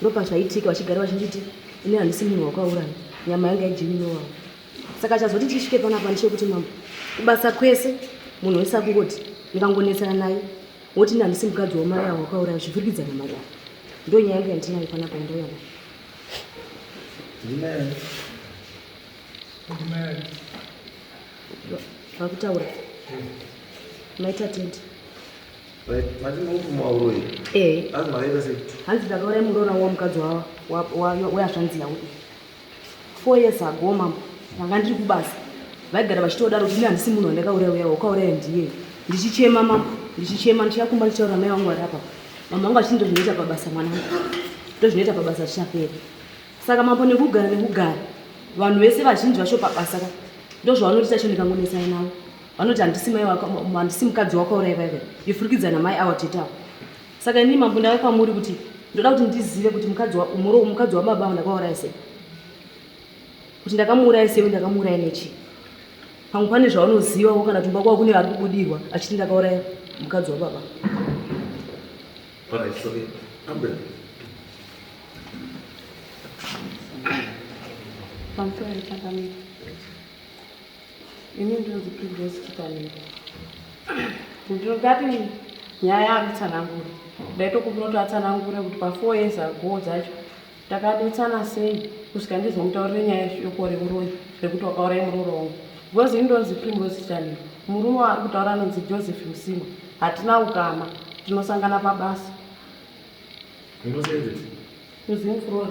Ndopa zvaitika vachigara vachinditi ini handisi munhu wakauraya nyama yanga ijini nowawo saka chazoti tisvike panapa ndichekuti mambo kubasa kwese munhu wese akungoti ngangonetsana naye woti ini handisi mukadzi wamai avo wakauraya zvivirikidzana mari avo ndo nyaya yanga yandinayo panapa yandauyana vakutaura maita tende Eh. hanzi ndakauraya muroora wamukadzi weyazvanzi yavo four years ago mambo ndanga ndiri kubasa vaigara vachitodaro kuti ini handisi munhu wandakauraya uya wakauraya ndiye ndichichema mambo ndichichema ndichakumba ndichitaura mai vangu vari apa mambo vangu vachiti ndozvinoita pabasa mwanangu ndozvinoita pabasa zvichapera saka mambo nekugara nekugara vanhu vese vazhinji vacho pabasa ka ndozvavanotiita cho ndikangonesana navo vanoti handisi mai wako handisi mukadzi wako uraivaive yofurikidzana mai awa tete avo saka inii mambo ndave kwamuri kuti ndoda kuti ndizive kuti mukadzi umuro mukadzi wababa avo ndakauraya sei kuti ndakamuuraya sei ndakamuuraya nechii pamwe pane zvaunoziva wo kana tumba kwavo kune vari kubudirwa achiti ndakauraya mukadzi wababa Right, sorry. I'm ready. Thank you. Ini ndinonzi Princess Chitaniro. Ndingati nyaya akutsanangura. Ndaitokumbira kuti atsanangure kuti pa 4 years ago dzacho takanetsana sei kusvika ndizomutaurire nyaya yeshoko reuroyi rekuti wakauraya muroora wangu. Because ini ndonzi Princess Chitaniro. Murume waari kutaura anonzi Joseph Msimba. Hatina ukama. Tinosangana pabasa. Unosenzesa? Kuzimflora.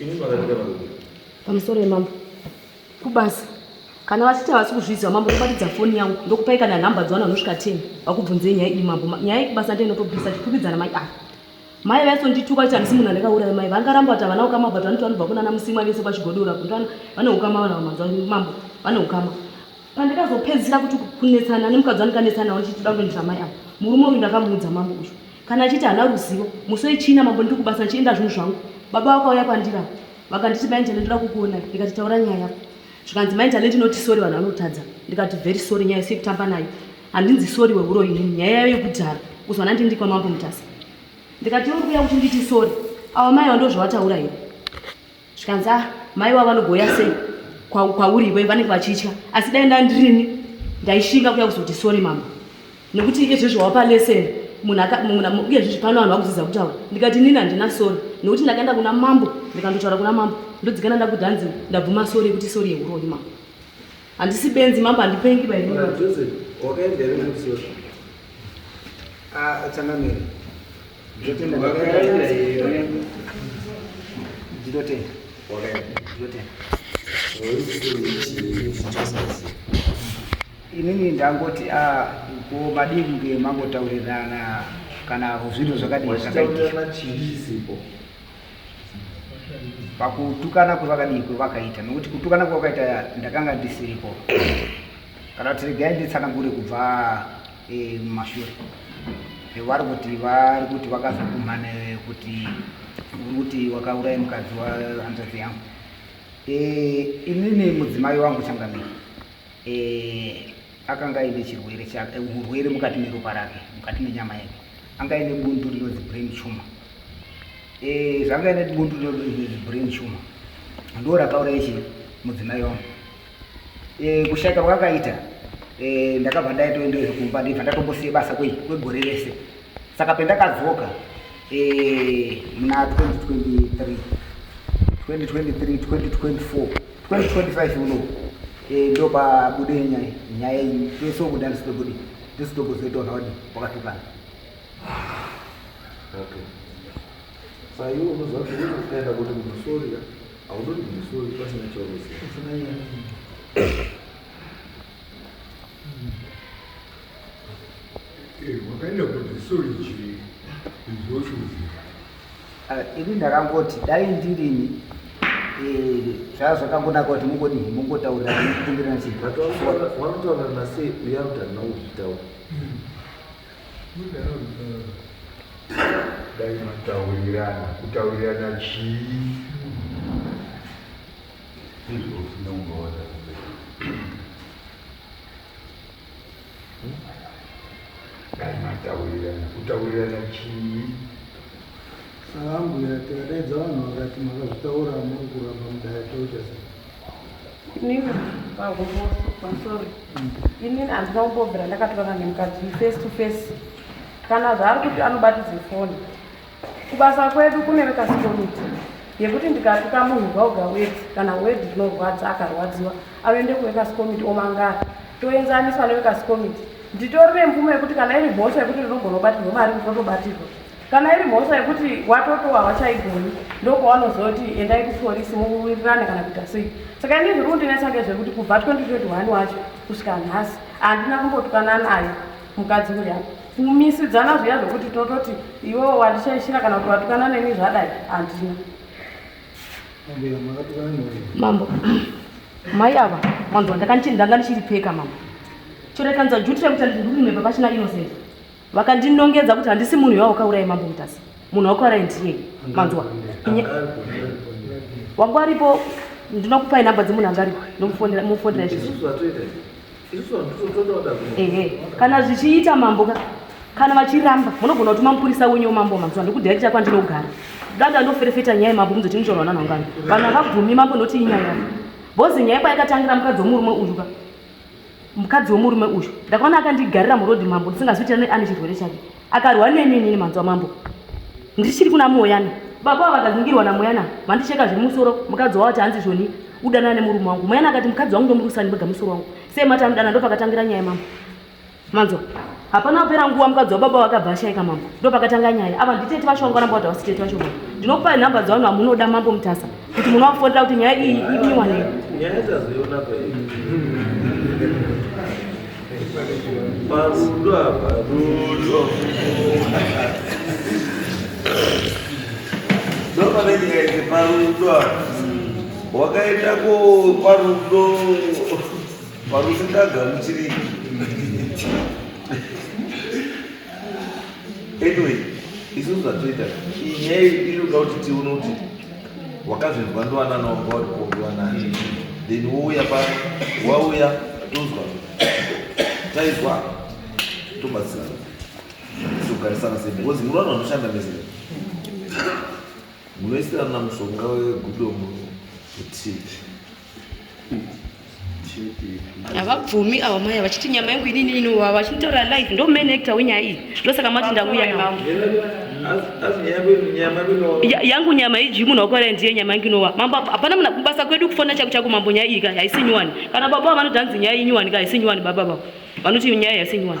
Ini makatika varume. Pamusoro yemambo. Kubasa. Kana vachiti havasi kuzviziva mambo kubatidza foni yangu ndokupai kana nhamba dzavana vanosvika 10 vakubvunzei nyaya iyi mambo nyaya iyi kubasa ndiyo inotobvisa tikwikwidzana mai ava mai vaisondituka kuti handisi munhu andakauraya mai vangaramba kuti havana ukama but vanoti vanobva kunana musimwa vese kwachigodora kuti vane ukama vana vamambo vane ukama pandakazopedzisira kuti kunetsana nemukadzi wandikanetsanawo ndichiti toda kuendesa mai avo murume uyu ndakamuudza mambo uyu kana achiti haana ruzivo musi wechina mambo ndiri kubasa ndichienda zvinhu zvangu baba vakauya kwandira vakanditi mai njale ndoda kukuona ndikati taura nyaya yako zvikanzi mai njale ndinoti sori vanhu vanotadza ndikati very sori nyaya isi yekutamba nayo handinzi sori weuroyi nini nyaya yayo yekudhara kuzwana ndindi kwamambo mutasa ndikati uri kuya kuti nditi sori awa mai vandozvavataura here zvikanzi ah mai wavo vanogouya sei kwauri iwe vanenge vachitya asi dai ndandirini ndaishinga kuya kuzoti sori mambo nekuti izvezvi wapa leseni uyezvezvi pano vanhu vakuziza kutaura ndikati nini handina sori nekuti ndakaenda kuna mambo ndikandotaura kuna mambo ndodzikana ndakudhanzi ndabvuma sori yekuti sori yeuroyi mambo handisi benzi mambo handipengi bai ah, changamire inini ndangoti ah, ko madii kunge mangotaurirana kana zvinhu zvakadii zvakaitika pakutukana kwevakadii kwevakaita nokuti kutukana kwevakaita ndakanga ndisiripo kana kuti regai nditsanangure kubva e, mumashure e, vari kuti vari kuti vakazokumhane kuti uri kuti wakauraya mukadzi wahanzvadzi yangu e, inini mudzimai wangu changamire e, akanga aine chirwere chake urwere mukati meropa rake mukati menyama yake anga aine bundu rinonzi brain tumor e, zvanga aine bundu rinonzi brain tumor ndo rakauraya chi mudzimai wangu e, kushata kwakaita e, ndakabva ndaitoendeyo kumba ndibva ndatombosiye basa kwei kwegore rese saka pendakadzoka e, muna 2023 2023 2024 2025 uno e, ndo pabude nyaya nyaya iyi tese kuda ndisitobude ndisitokuzoitaona wadi wakatukana okay. Saiwe unoziva kuti unoenda kuti munhu sorira Haunoni kumusoro kuti pasina chaunoziva. Eh, wakaenda kuti sorry chii izvochoziva. Ah, ini ndakangoti dai ndirini eh, zvaa zvakangonaka kuti mungodii mungotaurira mukumbirana chii But wakutoonana sei uya kuti handina kuzvitaura. dai mataurirana kutaurirana chii dai mataurirana kutaurirana chii saambwira tikadaidza vanhu vakati makazvitaura muri kuramba mudaya tochasa inini vakumbosukwa sorry inini handina kumbobvira ndakatorana nemukadzi uyu face to face kana zvaari kuti anobatidze foni kubasa kwedu kune vekasikomiti yekuti ndikatuka munhu gauga wedi kana wedi rinorwadza akarwadziwa anoende kuvekasikomiti omangara toenzaniswa nevekasikomiti nditori nemvumo yekuti kana iri mhosva yekuti rinogona kubatirwa mari ndinotobatirwa Kana iri mhosva yekuti watotowa hawachaigoni ndopawanozoti endai kupolisi mowirirana kana kuita sei. Saka ini zviri kundinetsa ngezvekuti kubva 2021 wacho kusvika nhasi handina kumbotwana naye mukadzi uya kumisidzana zviya zvekuti tototi iwewo wandichaishira kana kuti watukana neni zvadai handina mambo mai ava manzwa ndanga ndichiripeka mambo chorekanza juti rekuti andizvirurime papachina innocent vakandinongedza kuti handisi munhu iwawo kaurayi mambo mutasi munhu wakuurayi ndiye manzwa wangu aripo ndinokupa inamba dzemunhu anga aripo ndomufonera izvizvi ehe kana zvichiita mambo ka kana vachiramba munogona kuti mamupurisa wenyu wemambo manzwa ndikudirekita kwandinogara dada ndoferefeta nyaya yemambo muzoti ndichorwa nanhangani vanhu havabvumi mambo ndoti inyaya bhozi nyaya kwayakatangira mukadzi womurume uyu ka Mukadzi wemurume uyu ndakaona akandigarira muroad mambo ndisingazivi ane chirwere chake akarwa neni inini manzwa mambo ndichiri kuna moyana baba ava vakazingirwa namoyana vandicheka zviri musoro mukadzi wavo chaanzi zvoni udanana nemurume wangu moyana akati mukadzi wangu ndomurusani vega musoro wangu sei mati anodana ndopakatangira nyaya mambo Manzwa. Hapana kupera nguva mukadzi wababa vakabva ashaika mambo. Ndo pakatanga nyaya. Ava nditete vacho vanga ramba kuti havasi tete vacho mambo. Ndinokupai nhamba dzavanhu vamunoda mambo Mutasa kuti munovafonera kuti nyaya iyi ibiwane. Nyaya tazoiona kwei. Parudo apa rudo. Ndopane nyaya iri parudo apa. Wakaita ko parudo. Parusingagamukiri. Anyway, isusu zvatoita inyaya inoda kuti tione kuti wakazvinzwa ndiwanana wanga wari kuongiwa nani then wouya pa wauya tozwa taizwa tobatsirana togarisana sei because muri vanhu vanoshanda mezera munoisirana mushonga wegudomo kuti havabvumi ava maya vachiti nyama yangu inini inovava vachinditaura live ndo main actor wenyaya iyi ndosaka mati ndauya navo yangu nyama iji munhu wakuvarai ndiye nyama yangu inova mambo hapana muna kubasa kwedu kufona chaku chaku mambo nyaya iyi ka haisi nyuwani kana baba vanoda nzi nyaya inyuwani ka haisi nyuwani baba vavo vanoti nyaya haisi nyuwani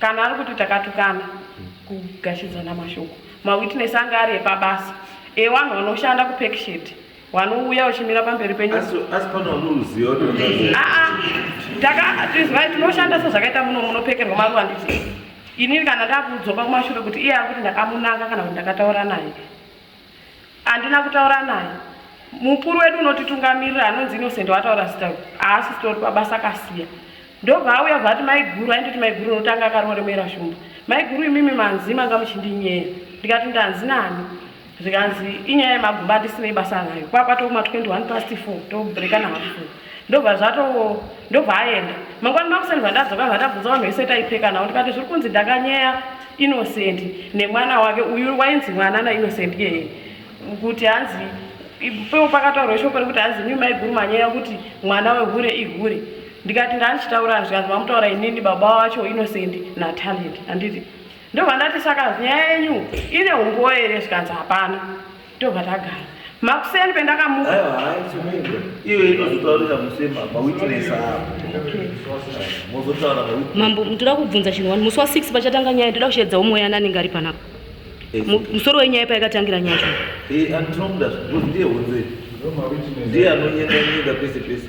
Kana ari kuti takatukana kugashidzana mashoko mawitness anga ari epabasa ewanhu wanoshanda kupeksheti wanouya wachimira pamberi penyu takatizwai tinoshanda sezvakaita muno munopekerwa maruva nditi inini kana ndakuudzoka kumashure kuti iye ari kuti ndakamunanga kana kuti ndakataura naye Andina kutaura naye. Mukuru wedu unotitungamirira anonzi Innocent wataura zita uyu. Haasi sitori pabasa kasiya. Ndobva auya bva ati maiguru aindoti maiguru unotanga akaroremera shumba. Maiguru imimi manzi manga muchindinyeya. Ndikati ndanzi nani? Zvikanzi inyaya yemaguba andisinei basa nayo. Kwakwa tokuma 21 past 4 tobrekana hafu. Ndobva zvato ndobva aenda. Mangwani makuseni zvandadzoka zvandabvunza vanhu vese taipfeka nawo ndikati zviri kunzi ndakanyeya Innocent nemwana wake uyu wainzi mwana na Innocent iyeye kuti hanzi ipewo pakataurwa shoko rekuti hanzi imi maiguru manyeya kuti mwana wehure ihure ndikati ndandichitaura zvikanzi mamutaura inini baba wacho Innocent na Talent handiti ndobva ndati saka nyaya yenyu ine umbowo here zvikanzi hapana tobva tagara makuseni pendakamuka iyo inozotaurira musema mawitness mozotaura mambo toda kubvunza chinhu wani musi wa six pachatanga nyaya toda kusheedzawo mweya ani anenge ari panapa eh. musoro wenyaya payakatangira nyaya eh, andinomuda ndiye hunze ndiye anonyenda nyenda pese pese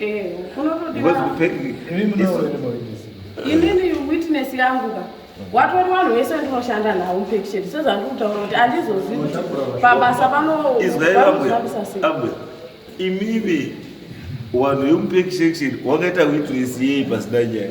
Eh, inini witness yangu ka watori vanhu vese ndinoshanda nawo mpekisheni sezvandikutaura kuti andizozi kuti pabasa panoaabwe imimi wanhu yomupekisheni wakaita witness yei pasina nyaya